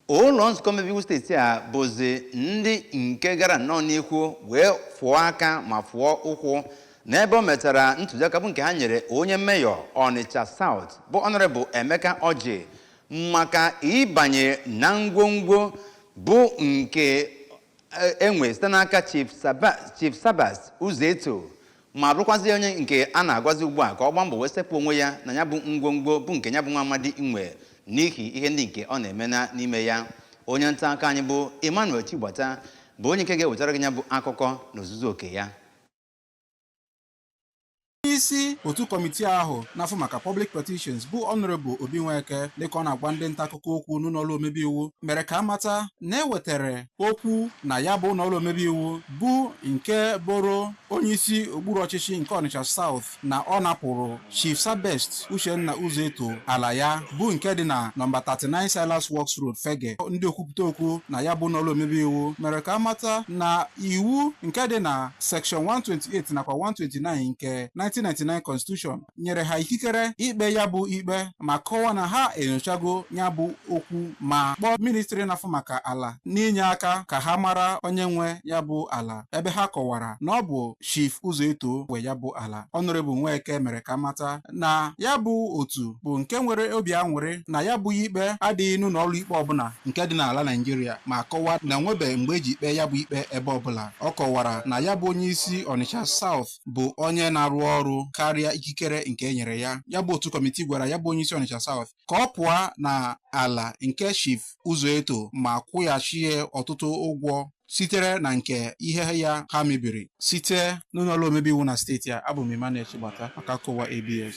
ụlọ nzukọ omebeiwu steeti a bụzi ndị nke gara nnọọ n'ihu wee fụọ aka ma fụọ ụkwụ n'ebe o metara ntụziaka bụ nke ha nyere onye mayor ọnịcha South bụ Honorable Emeka Orji maka ịbanye na ngwongwo bụ nke enwe site n'aka Chief Sabest Uzoeto ma bụrụkwazi onye nke a na-agwazi ugbu a ka ọ gbaa mbọ wee sepụ onwe ya na ya bụ ngwongwo bụ nke ya bụ nwa amadi nwe n'ihi ihe ndị nke ọ na-eme n'ime ya onye nta akụkọ anyị bụ Emmanuel Chigbata bụ onye nke ga-ewetara gị ya bụ akụkọ n'ozuzu oke ya isi otu kọmitii ahụ na-afụ maka Public Petitions bụ Honorable Obi Nweke dịka ọ na-agwa ndị nta akụkọ okwu n'ụlọọrụ omebe iwu mere ka a mata na e wetara okwu na ya bụ ụlọọrụ omebe iwu bụ nke boro onyeisi okpuru ọchịchị nke Ọnịcha South na ọ napụrụ Chief Sabest Uchenna Uzoeto ala ya bụ nke dị na nọmba 39 Silas Works Road Fegge ndị okwupụta okwu na ya bụ ụlọọrụ omebe iwu mere ka a mata na iwu nke dị na section 128 nakwa 129 nke 1999 constitution nyere ha ikikere ikpe ya bụ ikpe ma kọwa na ha enyochago ya bụ okwu ma kpọọ ministri na-afụ maka ala n'inye aka ka ha mara onye nwe ya bụ ala ebe ha kọwara na ọ bụ Chief Uzoeto nwe ya bụ ala Honorable Nweke mere ka a mata na ya bụ otu bụ nke nwere obi aṅụrị na ya bụ ikpe adịghị n'ụlọ ọrụ ikpe ọbụla nke dị n'ala Naịjirịa ma kọwaa na enwebe mgbe e ji ikpe ya bụ ikpe ebe ọbụla ọ kọwara na ya bụ onye isi Ọnịcha South bụ onye na-arụ ọrụ karịa ikikere nke e nyere ya ya bụ otu kọmitii gwara ya bụ onye isi Ọnịcha South ka ọ pụọ na ala nke Chief Uzoeto ma kwụghachie ọtụtụ ụgwọ sitere na nke ihe ya ha mebiri site n'ụlọọrụ omebe iwu na steeti a abụ m Emmanuel Chigbata maka akụkọ ụwa ABS